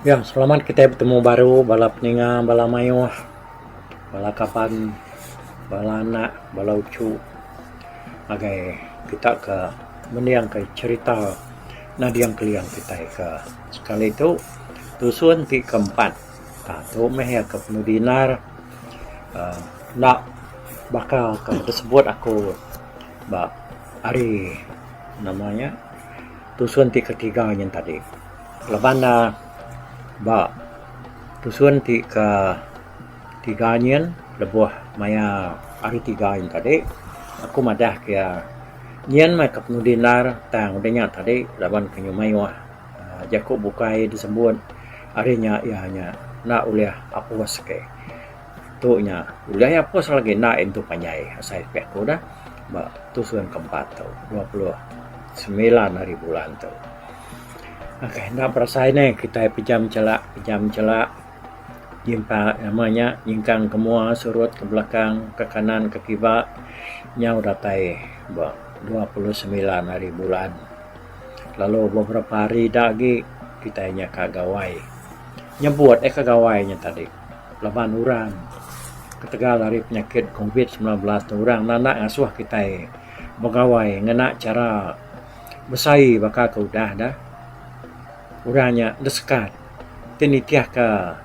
Ya, selamat kitai betemu baru bala peninga, bala mayuh, bala kaban, bala anak, bala uchu ngagai kita ke mending ke cherita nading keliang kitai ke. Sekali tu, tusun ti keempat. Tah tu meh iya ke penu dinar aaa enda baka ke besebut aku ba hari nama nya tusun ti ketiga nyin tadi. Laban ne ba tusun ti ketiga nyin lebuh maya hari tiga nyin tadi aku madah ke iya nyin meh ke penu dinar tang udah nya tadi laban ke nyuai. Jaku bukai disebut ari nya iya nya enda ulih apus ke. Tu nya udah iya apus lagi enda intu panjai asai pi aku dah ba tu suan ke empat tu dua puluh semilan hari bulan tu. Ok enda berasa ini kitai pejam chela pejam chela nyimpa nama nya nyingkang ke mua surut ke belakang ke kanan ke kiba nyau datai ba dua puluh semilan hari bulan. lalu beberapa hari ida agi kitai nya ka gawai nyebut eka gawai nya tadi laban orang ketegal ari penyakit covid sembilan belas tu orang enda enda ngasuh kitai begawai ngena chara besaie baka ke udah da orang nya desekat ti nitih ka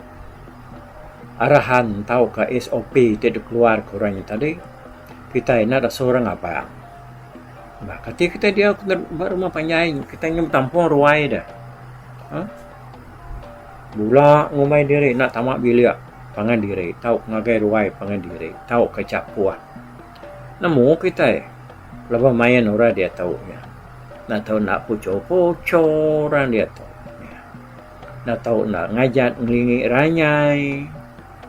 arahan tauka SOP ti dikeluar ka orang nya tadi kitai enda da suah ra ngabang. Ba kati kitai diau ba rumah panjai kitai nyau betampung ruai deh. Ha? Bula ngumbai diri enda tama bilik pangan diri tau ngagai ruai pangan diri tau ke chapuh. Nemu kitai lebuh main orang diatu nya. Enda tau enda pucho-pucho orang diatu nya. Enda tau enda ngajat ngelingi ranyai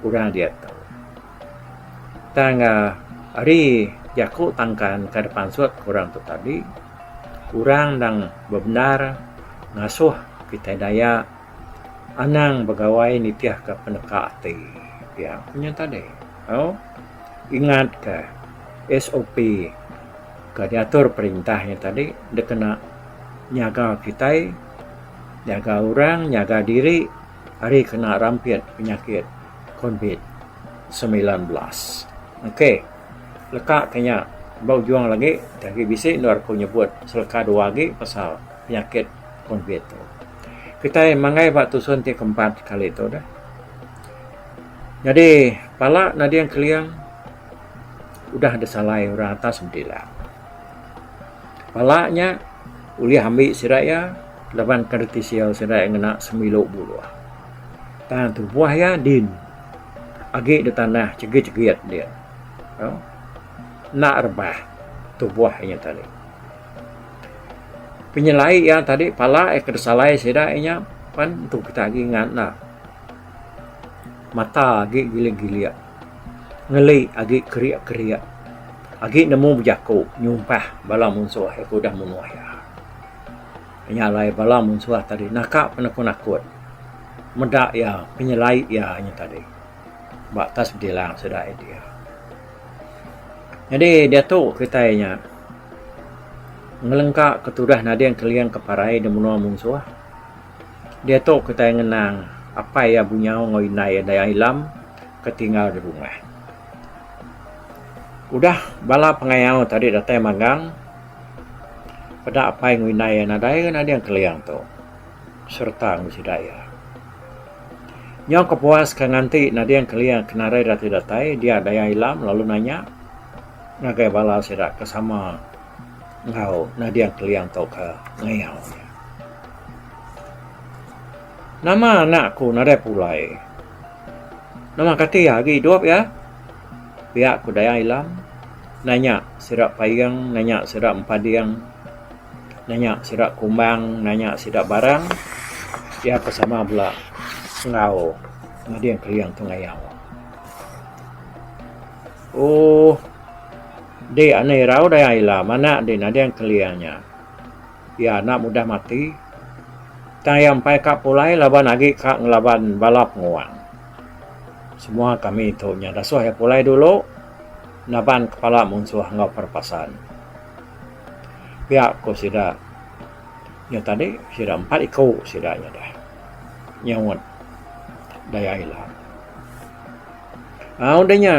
orang diatu. Tang ari jaku tangkan ka dipansut orang tu tadi, orang nang bebendar ngasuh kitai Dayak anang begawai nitihka peneka ati pia ku nya tadi. Au ingatka SOP ka diatur perintah nya tadi dikena nyaga kitai, nyaga orang, nyaga diri. ari kena rampit penyakit covid semilan belas. Ok leka ke nya ba ujung agi ti agi bisi endur aku nyebut seleka dua agi pasal penyakit covid tu. Kitai manggai ba tusun ti keempat kali tu deh. Nyadi pala nading keling udah disalai orang atas medi ila. Pala nya ulih ambi sida iya laban ke reti sida iya ngena sembilu buluh. Tang tubuh iya din agi da tanah chigit chigit dia enda rebah tubuh inya tadi. Penyelai iya tadi pala iya ke disalai sida iya nya pan tu kita agi ngan ne. Mata agi gilik-gilik. Ngeli agi kerik-kerik. Agi nemu bejaku nyumpah bala munsuh iya ke udah munuh iya. Inya alai bala munsuh tadi naka penakut-nakut meda iya penyelai iya nya tadi ba atas bedilang sida Edie. Nyadi diatu kitai nya ngelengka ke tudah nading keling ke parai dimunua munsuh. Diatu kitai ngenang apai iya bunyau enggau indai iya Dayak Ilam ke tinggal di rumah. Udah bala pengayau tadi datai magang, peda apai enggau indai iya nadai ke nading Keling tu sereta enggau sida iya. Nyau kepuas ke nganti nading Keling ke nadai reti datai, dia Dayak Ilam lalu nanya ngagai bala sida ke sama enggau nading Keling tu ke ngayau iya. Nama anak aku nadai pulai. Nama kati agi idup iya? Pia ku Dayak Ilam nanya sida payeng nanya sida empading nanya sida kumbang nanya sida barang iya pun sama bala enggau mading kelieng tu ngayau. Ooh. Dik anu irau Dayak Ilam anak dik nading kelieng nya. Iya anak mudah mati. Tang iya empai ka pulai laban agi ka ngelaban bala penguang. Semua kami tu nya dasuh iya pulai dulu naban kepala munsuh enggau perepasan. Pia ku sida nya tadi sida empat iku sida nya deh nyaunt daya ila. Au udah nya,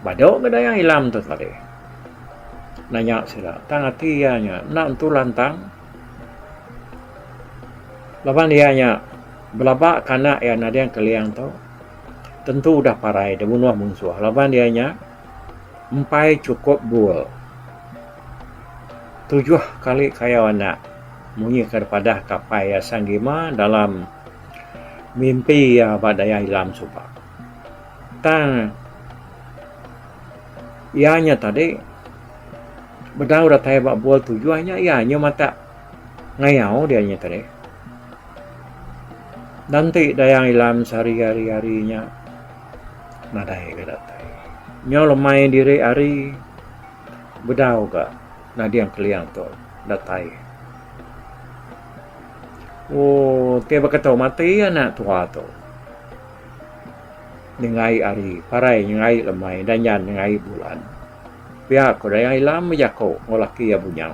badu ga daya ilam tu tadi. Nanya sida, tang ati iya nya enda entu lantang. Laban iya nya belaba ka anak iya nading Keling tu tentu udah parai dibunuh munsuh laban iya nya empai chukup bul. Tujuh kali kayau anak munyi ka dipadah ka apai iya Sang Gima dalam. Mimpi iya ba daya ilam suba. Tang iya nya tadi bedau datai ba bua tujuh nya iya nya matak ngayau dia nya tadi. Dan ti daya ilam sehari hari hari nya nadai ga datai. Nyau lemai diri hari bedau ga nading keling tu datai. Oh, ti baka tau mati anak tua tu. Nyengai ari, parai nyengai lemai, danyan nyengai bulan. Pia ko Dayang Ilam bejako enggau laki iya bunyau.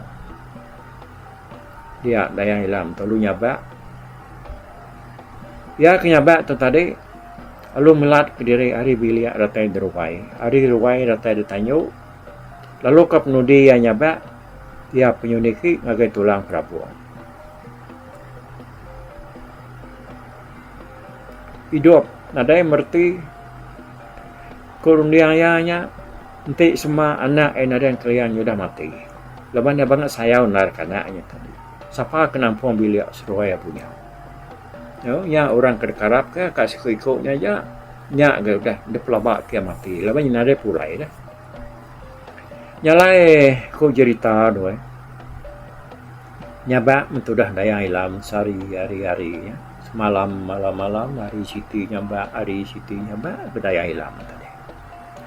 Dia Dayang Ilam tu lalu nyabak. Iya ke nyabak tu tadi lalu melat kediri ari bilik datai deruai. Ari ruai datai detanyu. Lalu ka penudi iya nyabak, iya penyu niki ngagai tulang perabung. Idup nadai mereti ku runding iya nya enti semua anak iya nadai nang kerean iya udah mati. Laban iya bangat sayau endar ka anak iya tadi. Sapa ke nampung bilik seruai iya punya. Nya nya orang ke deka arap ka siku-iku nya aja nya ga udah dipelaba ti iya mati laban iya nadai pulai dah. Nya alai ku jerita doi. Nyabak mentudah Dayang Ila Mensari hari-hari nya. Semalam malam-malam hari siti nyabak hari siti nyabak lalu Dayang Ila meh tadi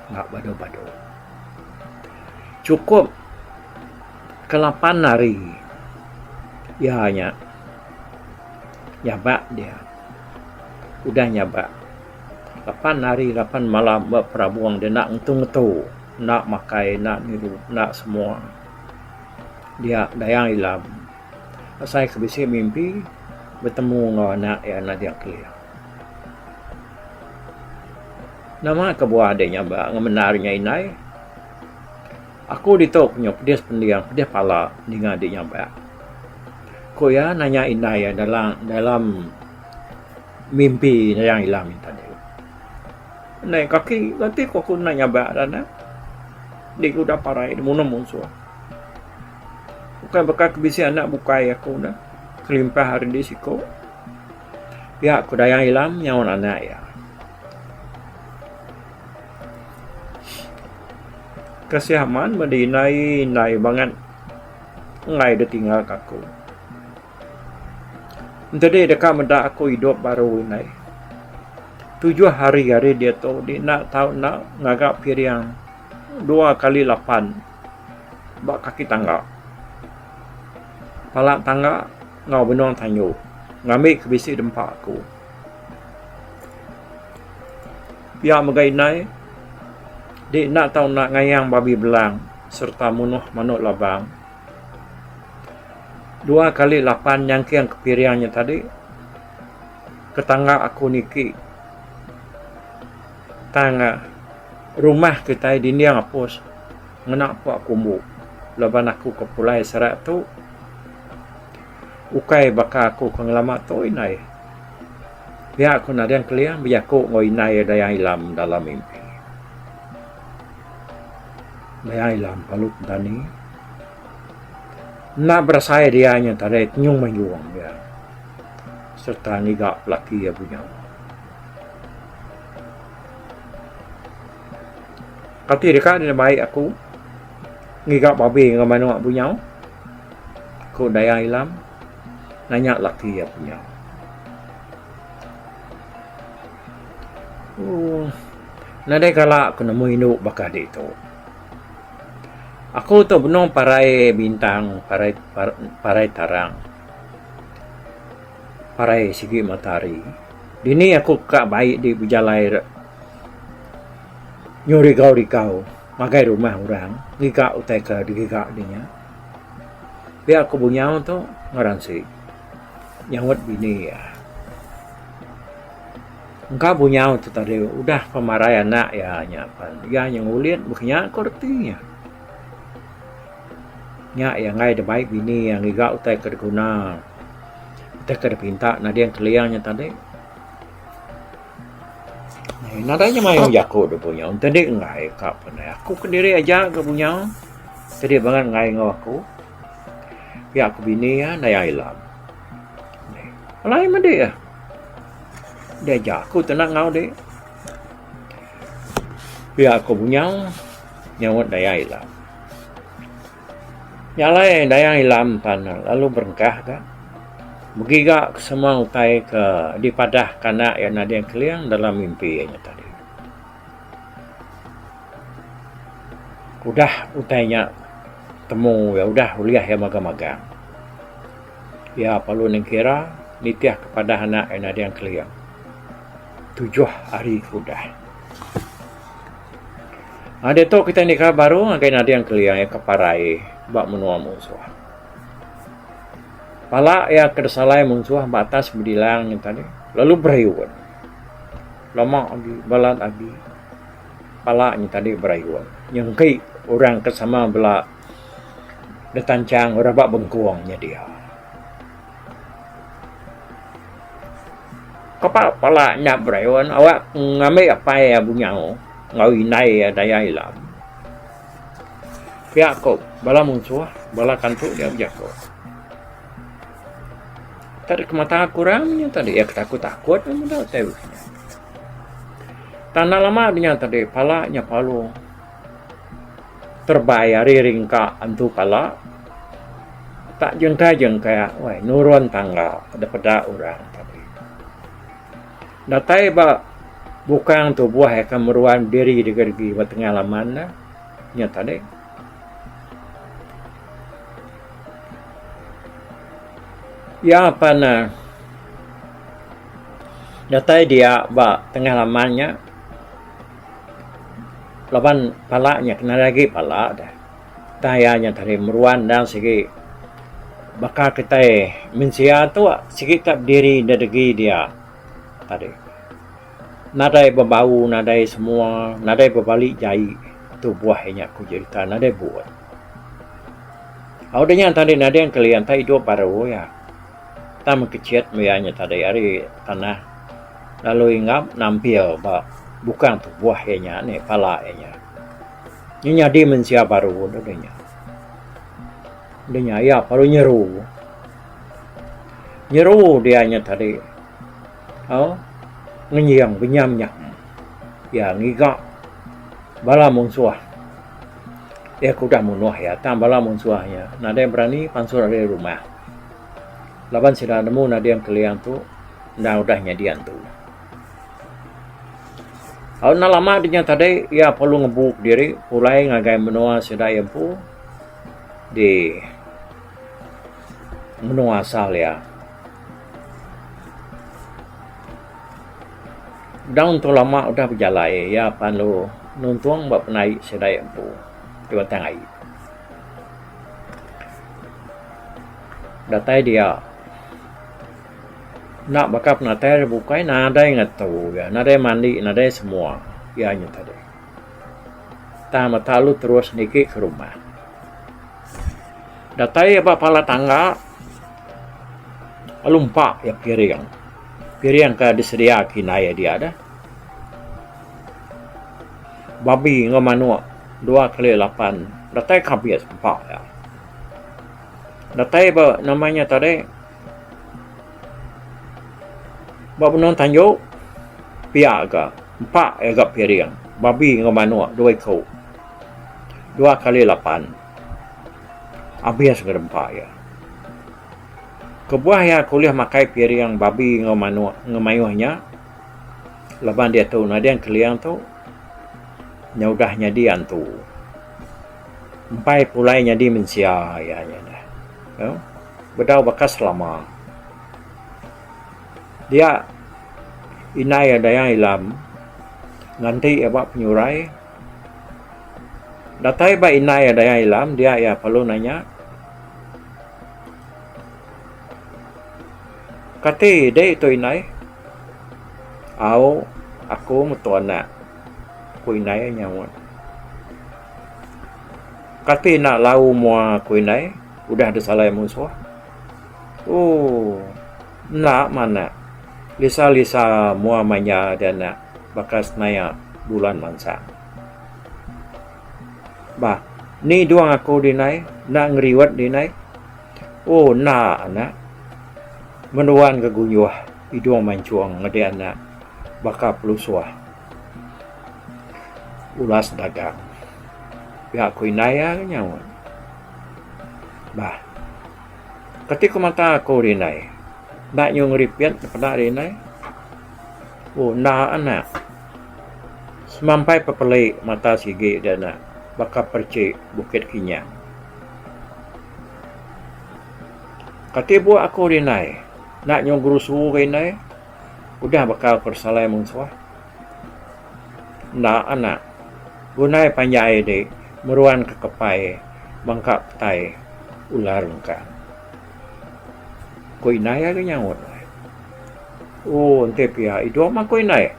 enda badu-badu. Chukup ke lapan hari iya nya nyabak dia. Udah nyabak. Lapan hari lapan malam ba perabung dia enda ngetu ngetu enda makai enda ngidu enda semua dia dayang ilam asai ke bisi mimpi betemu enggau anak iya naja kelih. Nama kebuah deh nyaba ngemendar nya indai aku ditu ku nyu pedis pending pedis pala ninga deh nyaba. Ku iya nanya indai iya dalam dalam Mimpi Dayang Ilang nya tadi. Naik kaki ganti ko aku enda nyabak tanah. Di ku udah parai di munung munsuh. Bukai baka ke bisi anak bukai aku dah kelimpah ari di siko. Pia ko Dayang Ilang nyaun anak iya. Kasih aman madi indai indai bangat enggai ditinggal ka aku. Entedi deka meda aku idup baru indai tujuh hari ari diatu di enda tau enda ngaga piring dua kali lapan ba kaki tangga pala tangga enggau benung tandu ngambi ke bisi dempa aku pia mega indai di enda tau enda ngayang babi belang sereta munuh manuk labang. Dua kali lapan nyangking ke piring nya tadi tetangga aku niki tang rumah kitai dinding apus ngena pua kumbu laban aku ke pulai seret tu ukai baka aku ke ngelama tu indai pia ku nading keling bejaku enggau indai Dayang Ilam dalam mimpi Dayang Ilam Balut Dani. Enda berasai dia nya tadai tenyung meh juong dia sereta ngiga pelaki iya bunya. Kati deka deh baik aku ngiga babi enggau manok bunya? ku Dayak Ilam nanya laki iya bunya. Ooh nadai kala aku nemu indu baka ditu. Aku tu benung parai bintang, parai parai tarang, parai sigi matahari. Dini aku ka bai di bejalai nyu rigau rigau ngagai rumah orang ngiga utai ka digiga di nya. Pia ku bunyau tu ngaran si nyaut bini iya. Engka bunyau tu tadi udah pan marai anak iya nya pan iya nya ngulit baka nya ko reti iya. Nya iya angai da bai bini iya ngiga utai ke diguna utai ke dipinta nading keling nya tadi. Nadai inya mayuh jaku da bunyau ne tadi enggai ka pan ai. Aku kendiri aja ga bunyau tadi bangat enggai enggau aku. Pia ku bini iya naya ila. Alai madi ah. Dia jaku tu nak ngau dek. Pia aku bunyau nyawat daya ilam. Nyalai daya ilam pan lalu berengkah ga. Begiga ke semua utai ke dipadah kanak iya nading keling dalam mimpi iya nya tadi. Udah utai nya temu iya udah ulih iya magang-magang. Iya parlu nengkira nitih ke padah anak iya nading kelia tujuh hari ke udah. Ari ditu kita nikah baru ngagai nading kelia iya ke parai ba menua munsuh. Pala iya ke disalai munsuh ba atas bedilang nya tadi lalu berayun. Lama agi balat agi pala nya tadi berayun nyengki orang ke sama bela. da tanchang orang ba bengkong nya dia. Kapa pala nya Brian awa ngambi apai iya bunyau enggau indai iya daya ila. Pia ko bala munsuh bala kantu dia bejaku. Tadi kemata ku orang nya tadi iya ketakut-takut meh meda utai bisi. Tang enda lama nya tadi pala nya palung. Terbai ari ringka antu pala tak jengka-jengka weh nurun tangga da peda orang tadi. Datai ba bukang tubuh eka meruan biri degi-degi ba tengah laman ne nya tadi. Iya pan ne datai dia ba tengah laman nya. Laban pala nya kena ari agi pala deh. Tang iya nya tadi meruan endang sigi baka kitai mensia tu sigi ka bediri nda degi dia tadi. Nadai bebau nadai semua nadai bebali jai tu buah inya ku jerita nadai buut. Au dinya tadi nading keli enta idup baru iya. Tang mekechit maya nya tadi ari tanah lalu inggap nampil ba bukang tubuh iya nya ni pala iya nya. Nya nyadi mensia baru deh nya. Deh nya iya baru nyeru. Nyeru dia nya tadi au ngenjing benyam nyam iya ngiga bala munsuh. Iya ke udah munuh iya tang bala munsuh nya nadai berani pansut ari rumah. Laban sida nemu nading Keliang tu endang udah nyadi antu. Au enda lama dinya tadi iya perlu ngembu kediri pulai ngagai menua sida iya empu di menua asal iya. Endang tu lama udah bejalai iya pan lalu nuntung ba penaie sida iya empu di Batang Ai. Datai dia. Enda baka penatai ari bukai nadai ngetu iya. Nadai mandi nadai semua. Iya nyau tadi. Tang mata lu terus niki ke rumah. Datai iya ba pala tangga lalu empa iya piring. Piring ka disedia kitai dia deh. Babi enggau manok dua kali lapan datai ke abis empa iya. Datai ba nama iya tadi ba benung tanjau pia ga empa iya ga piring babi enggau manok dua iku dua kali lapan abis ngagai empa iya. Kebuah iya ke ulih makai piring babi enggau manok enggau mayuh nya. Laban diatu nading keling tu nyau udah nyadi antu. Empai pulai nyadi mensia iya nya neh. Au bedau baka selama. Dia indai iya Dayang Ilam nganti iya ba penyurai. Datai ba indai iya Dayang Ilam dia iya perlu nanya kati dei tu indai? Au aku mutu anak aku indai nyaut. Kati enda lau mua aku indai udah disalai musuh. Ooh enda manah lisa lisa mua maya dia anak baka senaya bulan mansang. Bah eni duang aku di indai enda ngeriwet di indai. Oh enda anak. Menuan ke guyuh idung mancung ngeda anak baka pelusuh ulas dagang. Pia ku indai iya ke nyaut. Bah. Kati ku mata aku ri indai. Enda nyu ngeripit ne peda ri indai. Oh enda anak. Semampai pepeli mata sigi da anak baka perchi bukit kinyang. Kati buk aku ri indai. Enda nyuah guru suhu ke indai. Udah baka ku ri salai mung suah. Enda anak. Gundai panjai di meruan ke kepai bangka petai ular lengkang. Ku indai ari nyaut. Ooh enti pia idup mah ku indai.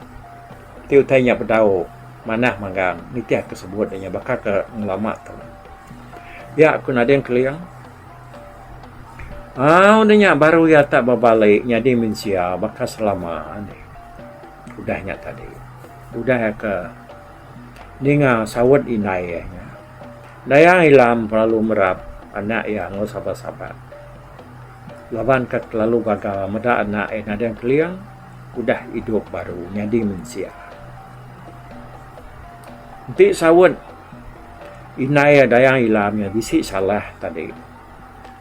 Ti utai nya bedau manah manggang nitih ke sebut inya baka ke ngelama tu. Pia ku Nadine Keling, Au ne nya baru iya ta bebali nyadi mensia baka selama ne. Udah nya tadi, udah iya ke ninga saut indai iya nya, Dayang Ilam kelalu merap anak iya enggau sabat-sabat. Laban ke kelalu gaga meda anak iya Nadine Keling udah idup baru nyadi mensia. Enti saut. Indai iya Dayang Ilam nya bisi salah tadi.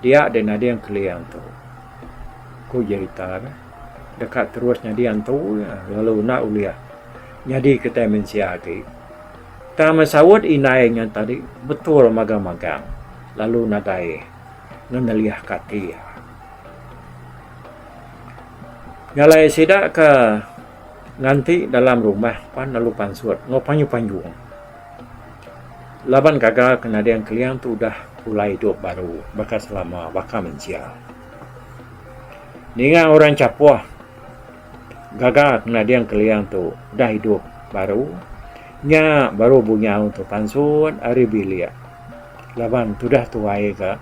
Dia deh nading keling tu. Ku jerita ne deka terus nyadi antu iya lalu enda ulih nyadi kitai mensia agi. Tang meh saut indai nya tadi betul magang magang lalu nadai ngenelih ka ati iya. Nya alai sida ke nganti dalam rumah pan lalu pansut enggau panjung panjung. Laban gaga ke nading Keliang tu udah pulai idup baru baka selama baka mensia. Ninga orang chapoh gaga ke nading Keliang tu udah idup baru nya baru bunyau tu pansut ari bilik laban tudah tuai ga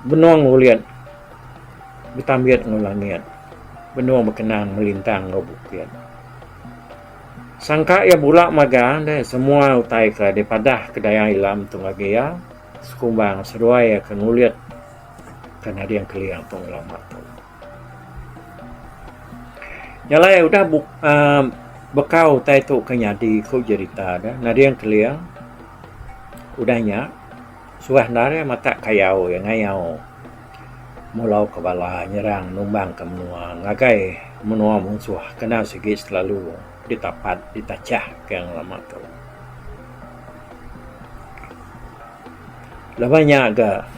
benung ulit betambit enggau langit benung bekenang melintang enggau bukit. Sangka iya bula magang deh semua utai ke dipadah ke daya ila mentung agi iya sekumbang seduai iya ke ngulit ke nading kelia entong ila empat tu. Nya alai udah beka utai tu ke nyadi ku jerita deh nading kelia udah nya suah enda deh matak kayau iya ngayau. Mulau ke bala nyerang numbangka menua ngagai menua munsuh kena sigi selalu ditapat ditachah ke ngelama tu. Lebuh nya ga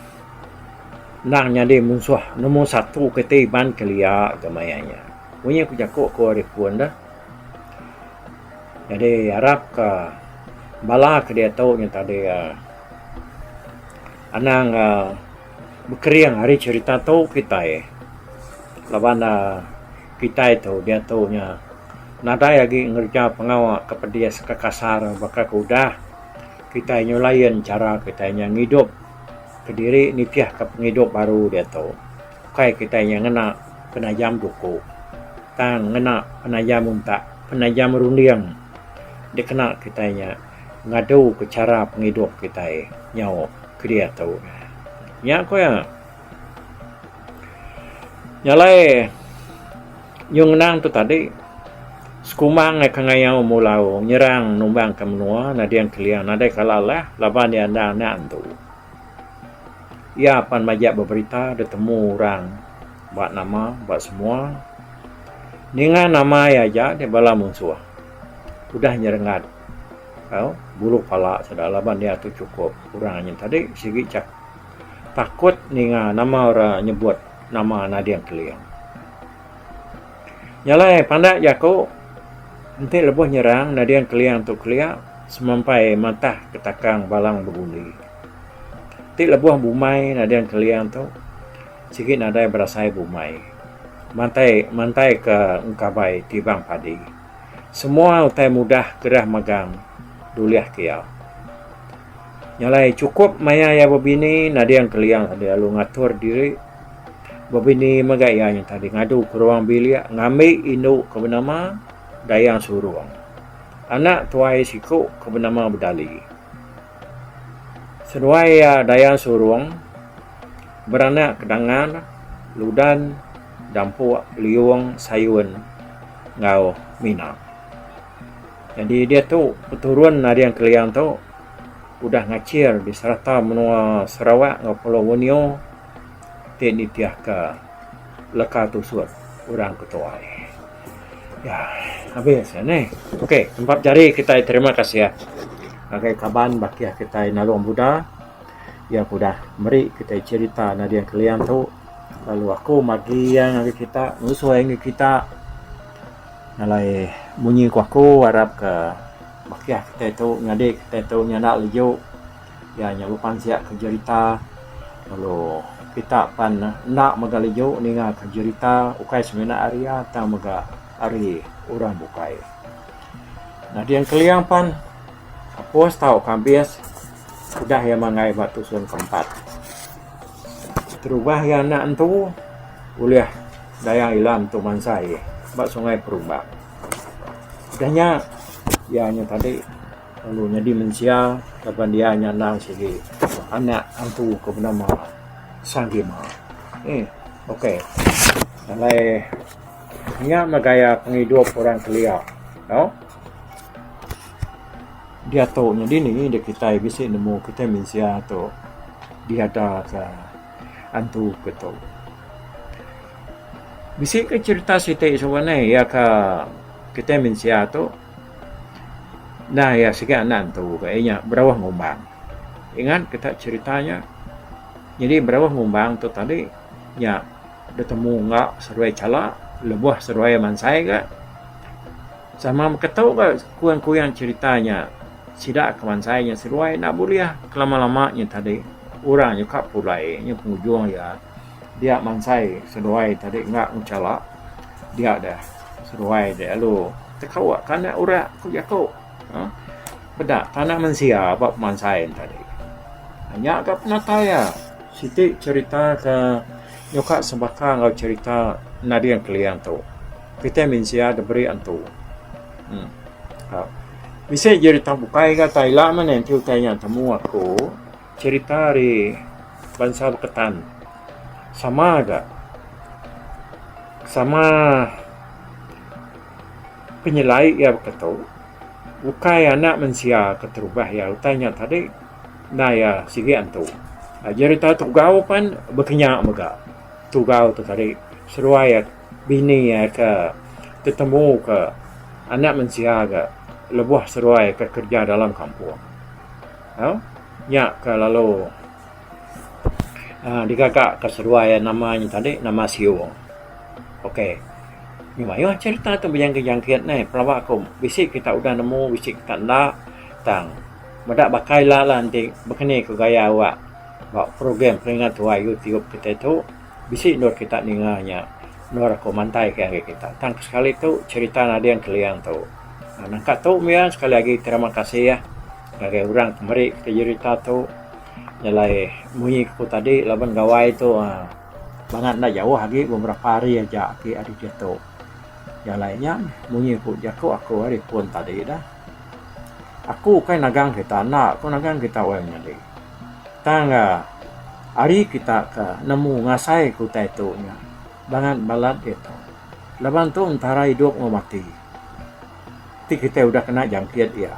endang nyadi munsuh nombor satu keti iban kelia ga maya nya. Mung nya ku jaku ku ari pun deh. Jadi arap ka bala ke diatu nya tadi anang ga. Bekering ari cerita tu kitai laban kitai tu diatu nya nadai agi ngereja pengawa ke pedis ke kasar baka ke udah kitai nyu lain chara kitai nya ngidup kediri nitih ke pengidup baru diatu ukai kitai nya ngena penajam duku tang ngena penajam untak penajam runding dikena kitai nya. ngadu ke chara pengidup kitai nyau kediatu nya ku iya nyalai nyung ngenang tu tadi sekumang ka ngayau mulau nyerang numbang ka menua nading keling nadai kala lah laban iya enda enda antu iya pan majak ba berita ditemu orang ba nama ba semua ninga nama iya aja bala munsuh udah nyerengat. Au, bulu pala sida laban iya tu chukup orang anyen tadi sigi chak takut ninga nama orang nyebut nama Nading Keling. Nya alai pandak jaku enti lebuh nyerang Nading Keling tu kelia semampai matah ke takang Balang Begundi. Ti lebuh bumai Nading Keling tu sigi nadai berasai bumai mantai mantaika engkabai tibang padi. Semua utai mudah gerah magang dulih ke iya. Nya alai chukup maya iya bebini nading kelia deh lalu ngatur diri. Bebini mega iya nyau tadi ngadu ke ruang bilik ngambi indu ke benama Dayang Surong. Anak tuai siku ke benama Bedali. Seduai iya Dayang Surong beranak ke dangan Ludan, Dampuk, Liung, Sayun. enggau mina. Nyadi diatu peturun nading Keliang tu udah ngachir di serata menua Sarawak enggau Pulau Borneo ti nitihka leka tusut orang ke tuai. Ya habis ya neh. Okey tempat jari kitai terima kasih ngagai kaban bakih kitai Nalong Buda iya ke udah meri kitai cherita nading Keliang tu. Lalu aku magi iya ngagai kita ngusoi ngagai kita ngalai munyi ku aku arap ka bakih kitai tu nyadi kitai tu nyanda laju iya nya lupan sia ka jerita lalu kita pan enda mega laju ninga ka jerita ukai semina ari iya tang mega ari orang bukai. Nading keling pan kapus tau ka abis udah iya mangai ba tusun ke empat. Terubah iya anak entu ulih dayang ila entu mansai ba sungai perubak. Udah nya iya nya tadi lalu nyadi mensia laban pun iya nya endang sigi anak entu ke benama Sang Gima. Eee okey alai nya mah gaya pengidup orang kelia tau. Diatu nya dini da kitai bisi nemu kitai mensia tu diadaka antu ke tu. Bisi ka cherita siti suba ne iya ka kitai mensia tu nah iya sigi anak antu ka inya berauh ngumbang. Ingat kita cherita nya. Jadi berauh ngumbang tu tadi nya betemu enggau seruai chala lebuh seruai mansai ka. Sama mega tu ga kuyang-kuyang cherita nya sida ke mansai nya seduai enda bulih kelama-lama nya tadi orang nya ka pulai nya pengujung iya dia mansai seduai tadi enda ngechala dia deh seduai deh lalu tekawa tanah urak ku jaku uhh peda tanah mensia ba pemansai nya tadi nya ga penatai iya siti cherita ke nyuka sebaka enggau cherita Nading Keling tu. Kitai mensia diberi antu. Em. Ka. Bisi ji rita bukai ga tai ila meh enti utai nya temu aku cerita ari bansa beketan. Sama ga sama penyelai iya baka tu ukai anak mensia ke terubah iya utai nya tadi endai iya sigi antu. Aji rita tugau pan baka nya mega. Tugau tu tadi seruai bini iya ke tetemu ke anak mensia ke lebuh seduai ke kerja dalam kampung. Au nya ke lalu aaa digaga ke seduai iya nama nya tadi nama siu. Okey nya mayuh cerita tu bejangkit-jangkit neh pelaba ku bisi kita udah nemu bisi kita enda tang meda baka ila lah enti baka ni ku gaya awak ba program peringat tuai youtube kita tu. Bisi endor kita ninga nya endor aku mantai ke ngagai kita tang sekali tu cerita nading keliang tu nangka tu mia sekali agi terima kasih ya ngagai orang ke meri kita cerita tu nyelai munyi ku tadi laban gawai tu uhh bangat enda jauh agi meh berapa hari aja agi ari diatu jalai nya meh munyi ku jaku aku ari pun tadi dah aku ukai nagang kita enda aku nagang kita wai menyadi. Tang ga, ari kita ke nemu ngasai ke utai tu nya bangat balat diatu. Laban tu entara idup enggau mati ti kitai udah kena jangkit iya.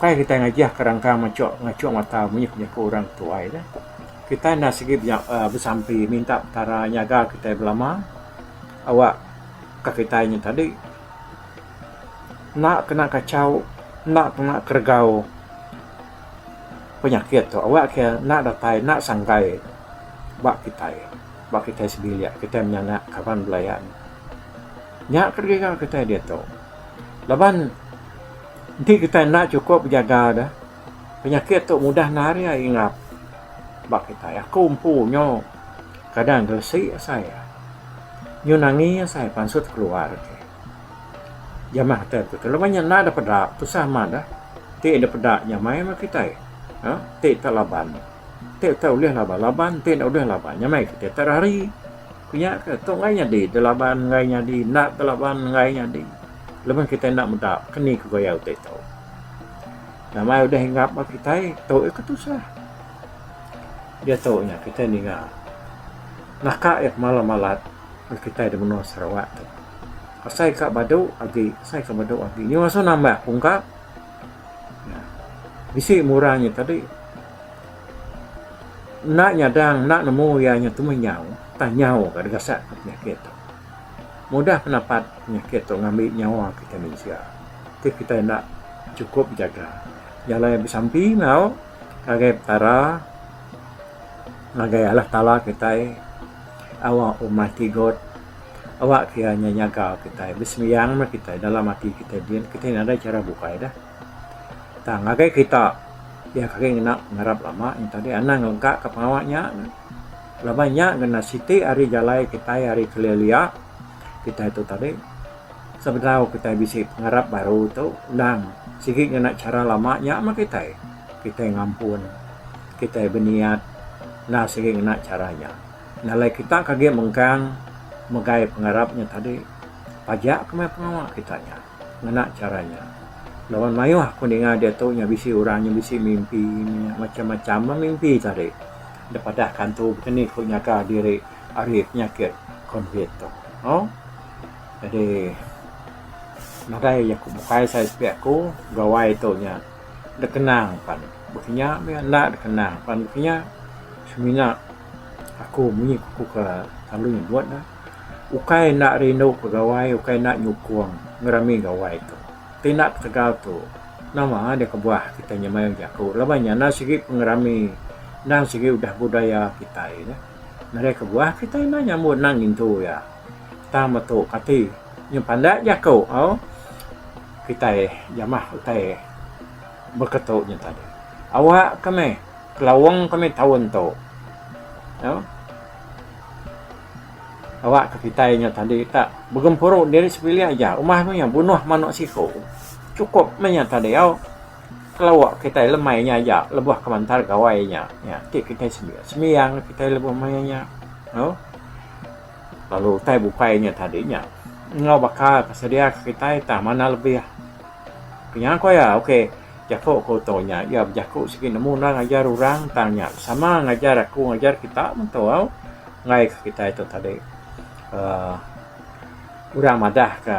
Kai kitai ngajah ke rangka machok ngachok mata munyi ke jaku orang tuai nya. Kitai enda sigi besampi minta Petara nyaga kitai belama awak ka kitai nya tadi enda kena kachau enda kena keregau. penyakit tu awak ke enda datai enda sanggai ba kitai ba kitai sebilik kitai menyana kaban belayan nya ke giga kitai diatu laban enti kitai enda sukup bejaga deh penyakit tu mudah nari aja ingap ba kitai aku empu nyo kadang gelesi asai nyun angi asai pansut keluar. Jamah atai aku tu laban nya enda ada peda tusah amat dah ti enda peda nya mai meh kitai uhh ti tak laban ti tak ulih laban laban ti enda ulih laban nya mai kitai tak rari ku nya ke tu enggai nyadi da laban enggai nyadi enda da laban enggai nyadi laban kitai enda meda keni ku gaya utai tu nama udah hinggap ba kitai tu iko tusah diatu nya kitai ninga naka iya pemalat malat. Ba kitai di menua Sarawak tu asai ka badu agi asai ka badu agi nyau asu nambah ku engka bisi murah nya tadi enda nyadang enda nemu iya nya tu meh nyau tah nyau ka digasak ka penyakit tu mudah penapat penyakit tu ngambi nyawa kitai mensia ti kitai enda chukup bejaga jalai besampi enggau ngagai petara ngagai Allah taala kitai. Awak umat ti good. Awak kia nya nyaga kitai besembiang meh kitai dalam ati kitai din kitai nadai chara bukai dah. Tang ngagai kita pia agi ngena pengarap lama nya tadi anang lega ka pengawa nya neh laban nya ngena siti ari jalai kitai ari kelia-lia kitai tu tadi sebedau kitai bisi pengarap baru tu endang sigi ngena chara lama nya meh kitai. Kitai ngampun. Kitai beniat enda sigi ngena chara nya. Enda alai kita ke agi mengkang megai pengarap nya tadi. Pajak ke meh pengawa kita nya ngena chara nya. Laban mayuh aku ninga diatu nya bisi orang nya bisi mimpi nya macam-macam meh mimpi tadi. Dep adah kantu baka ni ku nyaga diri ari penyakit covid tu. Au. Jadi nadai jaku bukai sai sepi aku gawai tu nya. Dekenang pan bekinya meh enda dekenang pan bekinya semina aku munyi aku ke selalu nyebut ne ukai enda rindu pegawai ukai enda nyukung ngerami gawai tu ti enda ketegal tu nama deh kebuah kitai nyemai bejaku laban nya enda sigi pengerami enda sigi udah budaya kitai neh nadai kebuah kitai enda nyambut enda ngintu iya tang metu kati nyepanda jaku au. Kitai jamah utai beketu nya tadi. Awak ke meh kelawang ke meh taun tu. Nya. Awak ke kitai nya tadi tak begempuru diri sebilik aja umbah meh iya bunuh manuk siku. Cukup meh nya tadi au. Kelawa kitai lemai nya aja lebuh kemantar gawai nya. Nya ti kitai sembiang kitai lebuh maya nya. Au. Lalu utai bukai nya tadi nya enggau baka ke sedia ke kitai tah manah lebih. Ke nya ko iya, ok, jaku ke uto nya iya bejaku sigi nemu endang ajar orang tang nya sama ngajar aku ngajar kita mentua enggai ke kitai tu tadi. Uhh orang madah ke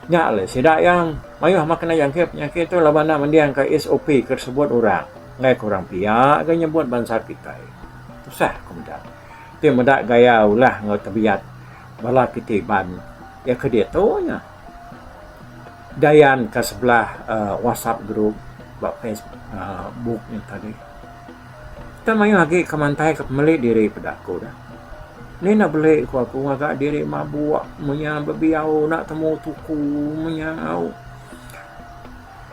nya alai sida iya mayuh ama kena jangkit penyakit tu laban enda mending ka SOP ke disebut orang. Enggai ka orang pia ga nyebut bansa kitai. Tusah ku meda. Ti meda gaya ulah enggau tebiat bala kitai Iban iya ke diatu nya Dayan ka sebelah whatsapp group ba facebook nya tadi. Kita mayuh agi ke mantai ka pemeli diri peda aku dah. Ni enda beli ku aku ngaga diri mabuk menya bebiau enda temu tuku menya au.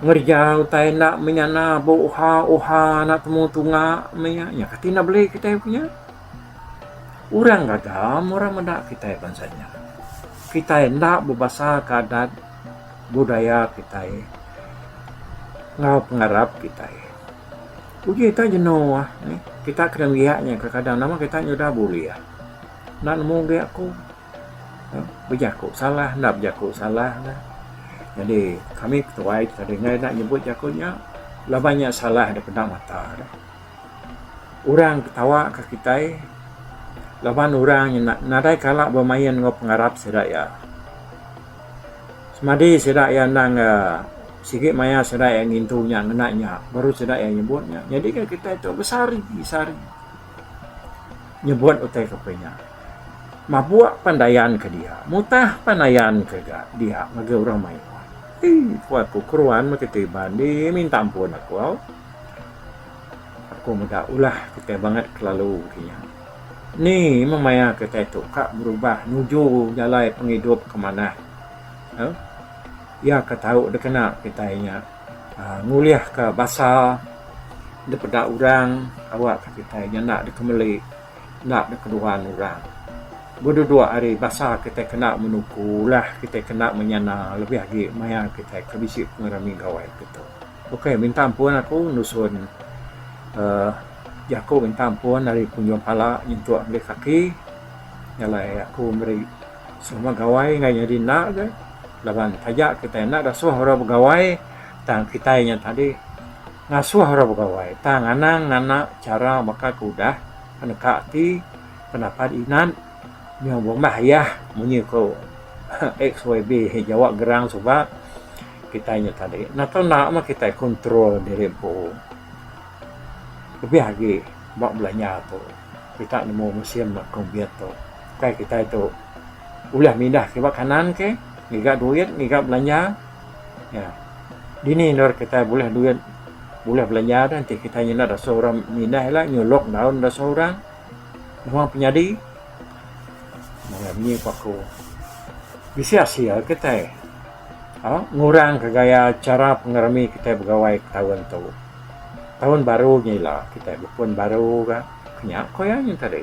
Ngereja utai enda menyana ba uha uha anak temu tunga meh iya. Nya kati enda beli kitai punya. Orang gaga meh orang meda kitai bansa nya. Kitai enda bebasaka adat budaya kitai enggau pengarap kitai. Uji ita jenu ah. Kita kena mbiak nya kadang kadang nama kita nyudah bulih. Enda nemu agi aku. Bejaku salah enda bejaku salah lah. Jadi kami ketuai ti kada ingat enda nyebut jaku nya laban nya salah daripada enda mata deh. Orang ketawa ka kitai laban orang nya nadai kala bemain enggau pengarap sida iya. Semadi sida iya endang uhh sigi maya sida iya ngintu nya ngena nya baru sida iya nyebut nya. Nyadi ka kitai tu besari sari. nyebut utai kapal nya mabuk pan dayan ke dia mutah pan dayan ke ga dia ngagai orang mayuh ii ku aku keruan meh kitai iban di minta ampun aku au aku meda ulah kitai bangat kelalu ke nya ni meh maya kitai tu ka berubah nuju jalai pengidup ke manah au iya ka tau dikena kitai nya. ngulihka basa da peda orang awakka kitai nyanda deka meli enda deka nuan orang. Ku dudok hari basa kitai kena menuku ulah kitai kena menyana lebih agi maya kitai ke bisi pengerami gawa iti tu. Ok minta ampun aku nusun uhh jaku minta ampun ari penujung pala nyentuk meli kaki jalai aku meri. Semua gawai enggau nyadi enda aja laban taja kitai enda ngasuh orang begawai tang kitai nya tadi ngasuh orang begawai tang anang ngena chara baka ke udah peneka ati pendapat inan nyau bembah ayah munyi ku xyb jawa gerang suba kitai nya tadi enda tau enda mah kitai control diri empu lebih agi ba belanja tu. Kita nemu musim Kong Biet tu. Ukai kitai tu ulih mindah kiba kanan ke ngiga duit ngiga belanja ya dini endur kitai bulih duit bulih belanja dah enti kitai nyindak dasu orang mindah ila nyuluk endaun dasu orang nuang penyadi mega munyi ku aku bisi asil kitai ngurang ka gaya chara pengerami kitai begawai taun tu. Taun baru nya ila kitai bepun baru ga nya ko iya nya tadi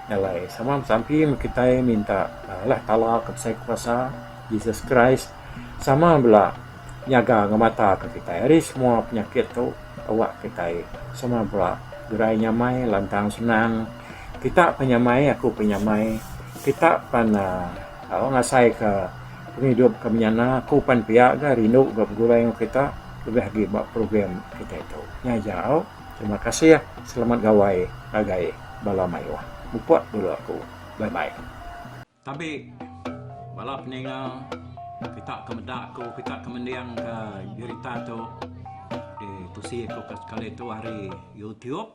alai sama besampi meh kitai minta Allah taala ke besai kuasa Jesus Christ sama bala nyaga ngemata ke kitai ari semua penyakit tu awak kitai sama bala gerai nyamai lantang senang kita pan nyamai aku pun nyamai kita pan uhh ngasai ka pengidup ke menyana aku pan pia ga rindu ga begulai enggau kita. lebih agi ba program kitai tu nya jau terima kasih selamat gawai ngagai bala mayuh mupuk dulu aku bye bye. Tabi bala peninga kita ke meda ku kita ke mending ka berita tu di tusi ku ka sekali tu ari youtube.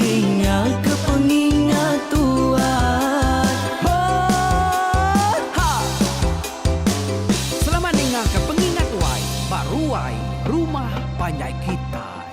Dingaka pengingat tuat ho ha. Selamat ningaka pengingat wai ba ruai rumah panjai kitai.